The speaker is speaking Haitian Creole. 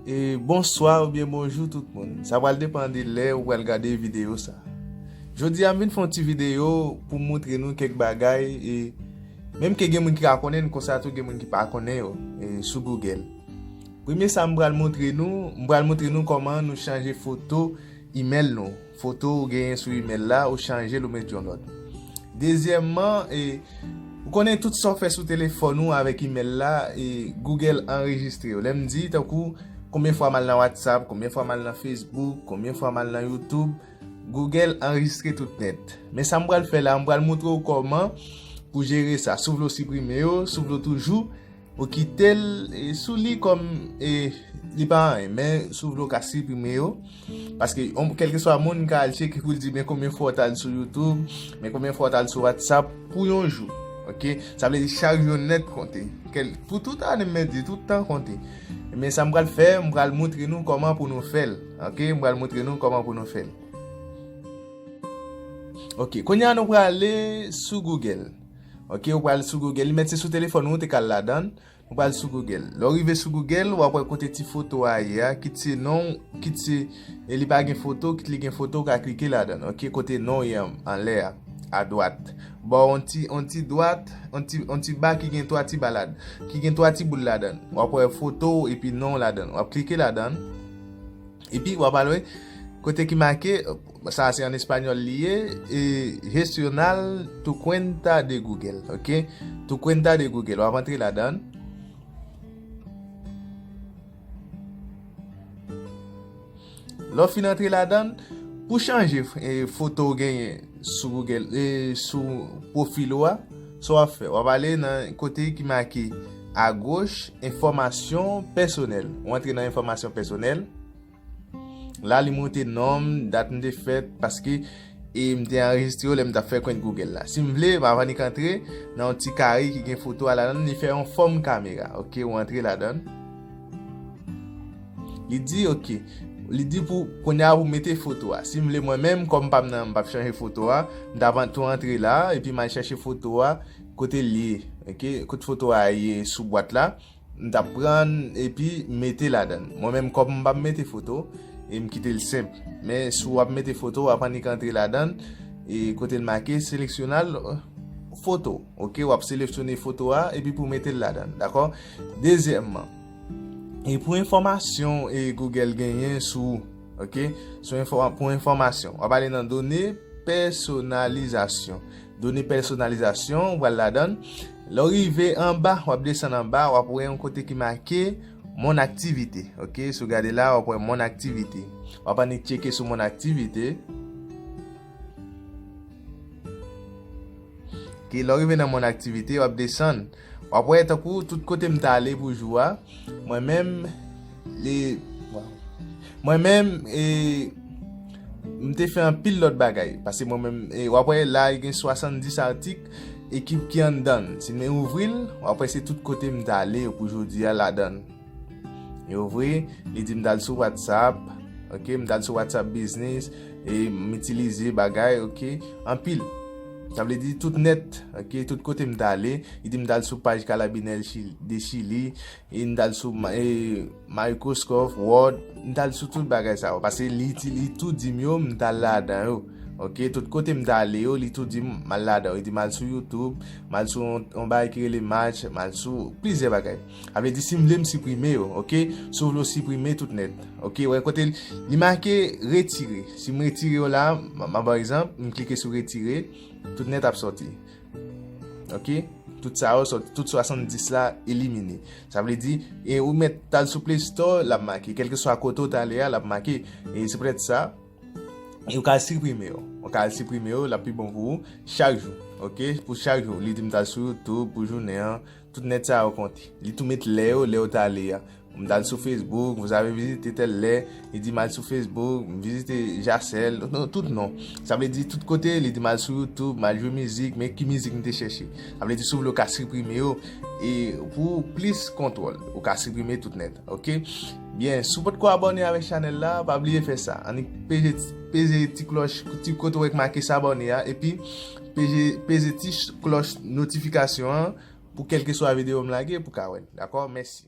E bonswa ou byen bonjou tout moun. Sa wale depan de lè ou wale gade video sa. Jodi am vin fon ti video pou moutre nou kek bagay e menm ke gen moun ki ka konnen konsa tou gen moun ki pa konnen yo sou Google. Premye sa m wale moutre nou, m wale moutre nou koman nou chanje foto email nou. Foto ou genyen sou email la, ou chanjel ou met yon lòt. Dezyèmman, ou konnen tout sa ou fè sou telefòn ou avèk email la, Google anrejistre yo. Lè m di, tankou, konbyen fwa m al nan WhatsApp, konbyen fwa m al nan Facebook, konbyen fwa m al nan YouTube, Google anrejistre tout nèt. Men sa m pral fè la, m pral moutre ou kòman pou jere sa. Si w vle w siprime yo, si w vle w toujou. Ou kitel sou li kom li pa anyen men si w vle w ka siprime yo paske kelkeswa moun ka al cheke pou l di men konbyen fwa w t al sou youtube men konbyen fwa w t al sou whatsapp pou yon jou ok sa vle di chak jou nèt konte pou tout ane mwen di tout tan konte men sa m pral fè m pral moutre nou koman pou nou fè l ok m pral moutre nou koman pou nou fè l ok kounye a nou prale sou google Ok ou pral sou Google li met se sou telefon ou ou te ka al ladan ou pral sou Google lè ou rive sou Google wap wè kote ti foto a ye a kit se non kit se e li pa gen foto kit li gen foto ou ka klike ladan ok kote non ou ye anlè a a dwat ba w yon ti yon ti dwat yon ti yon ti ba ki gen 3 ti ba lad ki gen 3 ti boul ladan wap wè foto ou epi non ou ladan wap klike ladan epi wap al wè kote ki make. Sa a se an español li ye e gestional tu cuenta de Google ok tu cuenta de Google wap antre ladan l. Lè w fin antre ladan l pou chanje foto ou genyen sou Google sou profil ou a sa wap fè wap ale nan kote ki make a goch enfòmasyon pèsonèl ou antre nan enfòmasyon pèsonèl. La li monte nom, dat m te fèt, paske e m te anrejistre yo lè m t ap fè kont Google la. Si m vle, m ap annik antre nan yon ti kare ki gen foto a ladan l, li fè yon fòm kamera. Ok, ou antre ladan. Li di ok, li di pou kounye a pou mete foto a. Si m vle mwen menm, kòm m pa m nan, m pa p chanje foto a, m ta van tou antre la, epi m al chèche foto a kote l ye. Ok, kote foto a ye sou bwat la, M tap pran l epi mete ladan l. Mwen menm kòm m pa mete foto e m kite l senp. Men si w ap mete foto w ap annik antre ladan l e kote l make seleksyonal foto ok w ap selefsyone foto a epi pou w mete l ladan l dakò. Dezyèmman e pou enfòmasyon e Google genyen sou ou ok sou pou enfòmasyon w ap ale nan done pèsonalizasyon Done pèsonalizasyon pral ladan. Lè w rive anba, w ap desann anba, w ap wè yon kote ki make Mon activité. Ok, si w gade la, w ap wè Mon activité. W ap annik tcheke sou Mon activité. Ok, lè w rive nan Mon activité, w ap desann. W ap wè tankou tout kote m ta ale pou jou a, mwen menm e. Mwen menm e. M te fè anpil lòt bagay. Pase mwen menm e. W ap wè la gen 70 atik ekip ki anndan l. Si men ouvri l, w ap wè se tout kote m ta ale pou jodi a ladan l. Yo vre, li di m dal sou whatsapp, ok, m dal sou whatsapp business, e m itilize bagay, ok, anpil. Sa vle di tout net, ok, tout kote m dale, li di m dal sou paj kalabinè de chili, e m dal sou microscope, word, m dal sou tout bagay sa yo. Pase li tout di m yo, m dal la dan yo. Ok, tout kote m dale yo, li tout di m mal la dan yo. Li di m al sou youtube, mal sou yon bagay ki rele match, mal sou plize bagay. Sa vle di si m vle m siprime yo ok si w vle w siprime tout nèt ok wè kote li make retire si m retire yo la map baw egzanp m klike sou retire tout nèt ap sòti ok tout sa yo sòti tout 70 la elimine sa vle di e ou mèt tal sou play store lap make kelke swa kote w t ale a lap make e se poutèt sa e ou ka al siprime yo ou ka al siprime yo lap pi bon pou ou chak jou ok pou chak jou li di m tal sou youtube pou jounen an Tout nèt sa yo konte. Li tou met lè yo, lè yo ta ale a. M ta al sou Facebook, vous avez visité telle lè, li di m al sou Facebook, m vizite Jacel, non, tout non. Sa vle di tout kote, li di m al sou YouTube, m al jwe mizik, men ki mizik m te chèche. Sa vle di si w vle ou ka siprime yo e pou plis kontwòl, ou ka siprime tout nèt. Ok? Byen, si w potko abòne avèk chanèl la, pa bliye fè sa. Annik peze ti klòch, ti kote ou wè ki make s'abonner a epi. Peze ti klòch notifikasyon an pou kèlkeswa videyo m lage pou ka wè l. Dakò? Mèsi.